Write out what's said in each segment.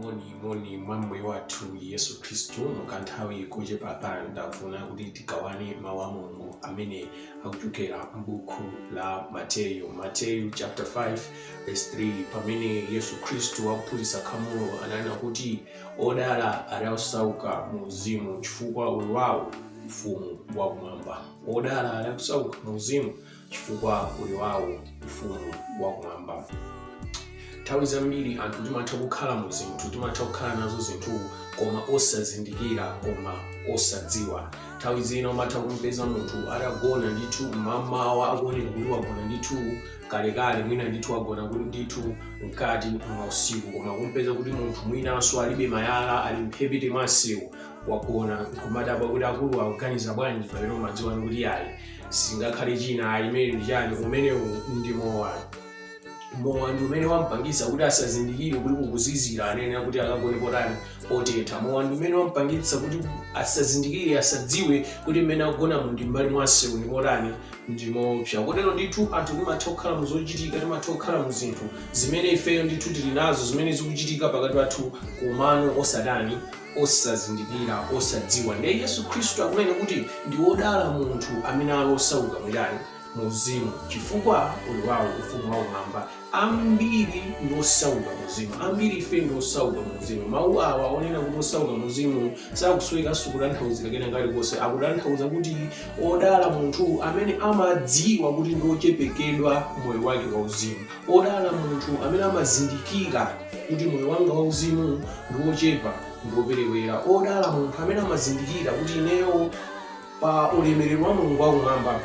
moni moni mwa mbuye wathu yesu khristu mukanthawi kochepa pano ndafuna kuti tigawane mawu a mulungu amene akuchokera m'buku la mateyu mateyu chapter 5 verse 3 pamene yesu khristu akuphunzitsa khamulo ananena kuti odala ali osauka mu uzimu chifukwa uli wawo ufumu wakumwamba odala ali osauka mu uzimu chifukwa uli wawo ufumu wakumwamba nthawi zambiri anthu timatha kukhala mu zinthu timatha kukhala nazo zinthu koma osazindikira koma osadziwa nthawi zina umatha kumpeza munthu atagona ndithu mamawa akuonekeratu wagona ndithu kalekale mwina ndithu wagona kuti ndithu mkati mwa usiku koma kumpeza kuti munthu mwinanso alibe malaya ali mphepete mwa msewu wagona nkumadabwa kuti akulu akuganiza bwanji pamene umadziwa kuti ayi singakhale china ayi ameneyu ndi chani umenewu ndi mowa mowa ndi umene wampangisa kuti asazindikire kuti kukuzizira anenera kuti akagone potani potetha mowa ndi umene wampangitsa kuti asazindikire asadziwe kuti mmene akugonamu ndi mmbali mwa msewu ndi motani ndi moopsa kotero ndithu anthu timatha kukhala mu zochitika timatha kukhala mu zinthu zimene ifeyo ndithu tili nazo zimene zikuchitika pakati pathu komano osatani osazindikira, osadziwa. Ndiye Yesu Khristu akunena kuti ndi wodala munthu amene ali osauka mu chani? Mu uzimu, chifukwa uli wawo ufumu wakumwamba. Ambiri ndi osauka mu uzimu, ambiri ife ndi osauka mu uzimu. Mau awa onena kuti osauka mu uzimu sakusowekanso kutanthauzira kena kalikonse. Akutanthauza kuti odala munthu amene amadziwa kuti ndi ochepekedwa moyo wake wa uzimu. Odala munthu amene amazindikira kuti moyo wanga wauzimu ndi wochepa ndi woperewera. Odala munthu amene amazindikira kuti ineyo pa ulemerero wa Mulungu wakumwamba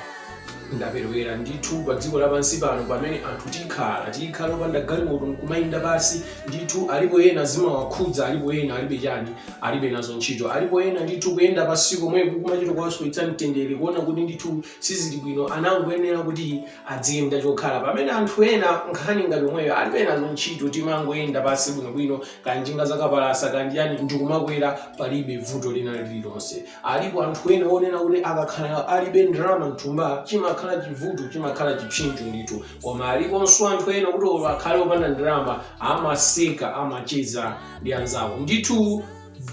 ndaperewera ndithu pa dziko lapansi pano pamene anthu tikhala tikhala opanda galimoto nkumayenda pansi ndithu alipo ena zimawakhudza alipo ena alibe chani alibe nazo ntchito alipo ena ndithu kuyenda pansi komweko kumachita kuwasowetsa mtendere kuona kuti ndithu Sizili bwino anangoyenera kuti adziyenda chokhala pamene anthu ena nkhani ngati yomweyo alibe nazo ntchito timangoyenda pansi bwinobwino kaya njinga zakapalasa kaya ndi chani ndikumakwera palibe vuto lina lililonse alipo anthu ena onena kuti akakhala alibe ndalama mthumba chimakhala chivuto chimakhala chipsinjo ndithu koma aliponso anthu ena kuti olo akhale opanda ndalama amaseka amacheza ndi anzawo ndithu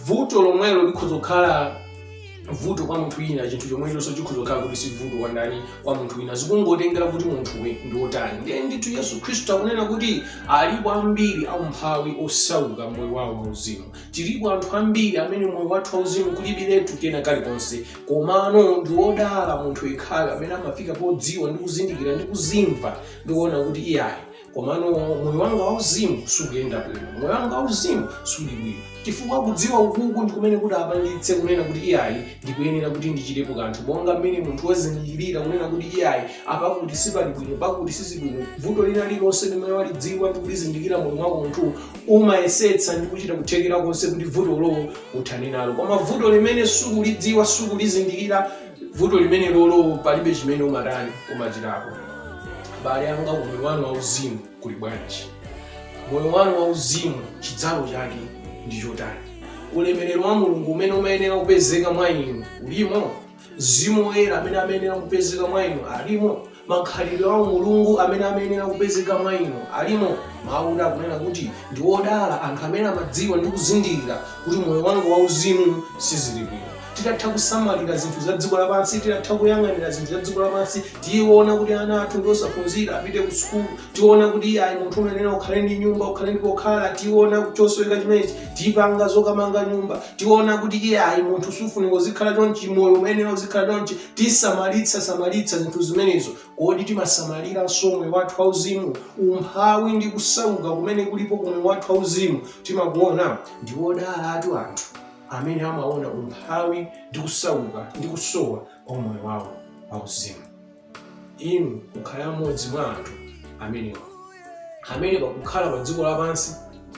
vuto lomwelo likhoza kukhala vuto kwa munthu wina chinthu chomwechonso chikhoza kukhala kuti si vuto kwa ndani kwa munthu wina zikungotengera kuti munthuwe ndi wotani ndiye ndithu yesu khristu akunena kuti alipo ambiri aumphawi osauka moyo wawo wauzimu tilipo anthu ambiri amene moyo wathu wauzimu kulibiretu kena kalikonse komano ndi wodala munthu yekhayo amene amafika podziwa ndi kuzindikira ndi kuzimva ndi kuona kuti iyayi komano moyo wanga wauzimu sukuyenda bwino moyo wanga wauzimu suli bwino chifukwa kudziwa ukuku ndi kumene kutipangitse kunena kuti iyayi ndikuyenera kuti ndichitepo kanthu monga mmene munthu wazindikirira kunena kuti iyayi apakuti sipali bwino pakuti sizili bwino vuto lina lilonse limene walidziwa ndi kulizindikira moyo mwako munthu umayesetsa ndi kuchita kuthekera konse kuti vutolo uthane nalo koma vuto limene sukulidziwa sukulizindikira vuto limenelolo palibe chimene umatani umachitapo abale anga kumoyo wanu wauzimu kuli bwanji moyo wanu wauzimu chidzalo chake ndi chotani ulemerero wa mulungu umene umayenera kupezeka mwa inu ulimo mzimu woyera amene amayenera kupezeka mwa inu alimo Makhalidwe a umulungu amene amayenera kupezeka mwa inu alimo. Mawu akunena kuti, Ndi odala anthu amene amadziwa ndi kuzindikira kuti moyo wanga wauzimu sizili bwino. Titatha kusamalira zinthu za dziko lapansi, titatha kuyang'anira zinthu za dziko lapansi, tiona kuti ana athu ndi osaphunzira, apite ku sukulu, tiona kuti iyayi munthu umayenera ukhale ndi nyumba, ukhale ndi pokhala, tiona chosoweka chimenechi, tipanga zokamanga nyumba, tiona kuti iyayi munthu sufunika uzikhala chonchi, moyo umayenera uzikhala chonchi, tisamalitsa-samalitsa zinthu zimenezo, kodi timasamaliranso moyo wathu wauzimu? Umphawi ndi kusauka kumene kulipo ku moyo wathu wauzimu timakuona? Ndi odalatu anthu amene amaona umphawi ndi kusauka ndi kusowa kwa moyo wawo wauzimu. Inu mukhale mmodzi mwa anthu amenewa. amene pakukhala pa dziko lapansi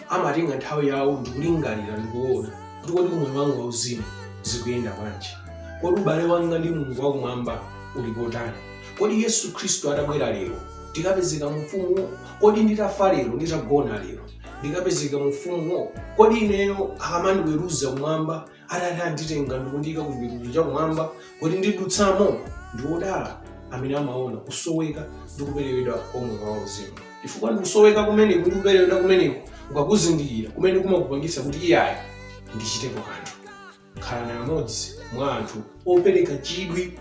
amatenga nthawi yawo ndikulingalira ndikuona kuti kodi moyo wanga wauzimu zikuyenda bwanji kodi ubale wanga ndi mulungu wakumwamba uli potani kodi yesu khristu atabwera lero ndikapezeka mu ufumuwo kodi nditafa lero nditagona lero ndikapezeka mu ufumuwo kodi ineyo akamandiweruza kumwamba atati anditenga ndikundiyika ku chiweruzo cha kumwamba kodi ndidutsamo. Ndi odala amene amaona kusoweka ndi kuperewedwa kwa moyo wa uzimu. Chifukwa ndi kusoweka kumeneko ndi kuperewedwa kumeneko ukakuzindikira kumene kumakupangitsa kuti iyayi, ndichitepo kanthu. Khalani amodzi mwa anthu opereka chidwi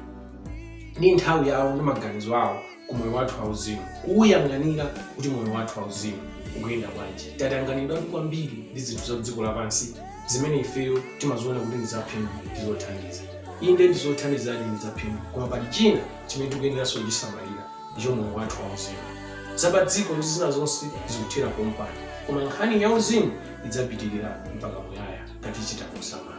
ndi nthawi yawo ndi maganizo awo ku moyo wathu wauzimu kuwuyang'anira kuti moyo wathu wauzimu ukuyenda bwanji tatanganidwa kwambiri ndi zinthu za dziko lapansi zimene ifeyo timaziona kuti ndi zaphindu ndi zothandiza inde ndi zothandizadi ndi zaphindu koma pali china chimene tikuyeneranso kuchisamalira ndicho moyo wathu wauzimu zapa dziko ndi zina zonse zikuthera pompano koma nkhani ya uzimu idzapitirira mpaka muyaya ngati tichita kusamala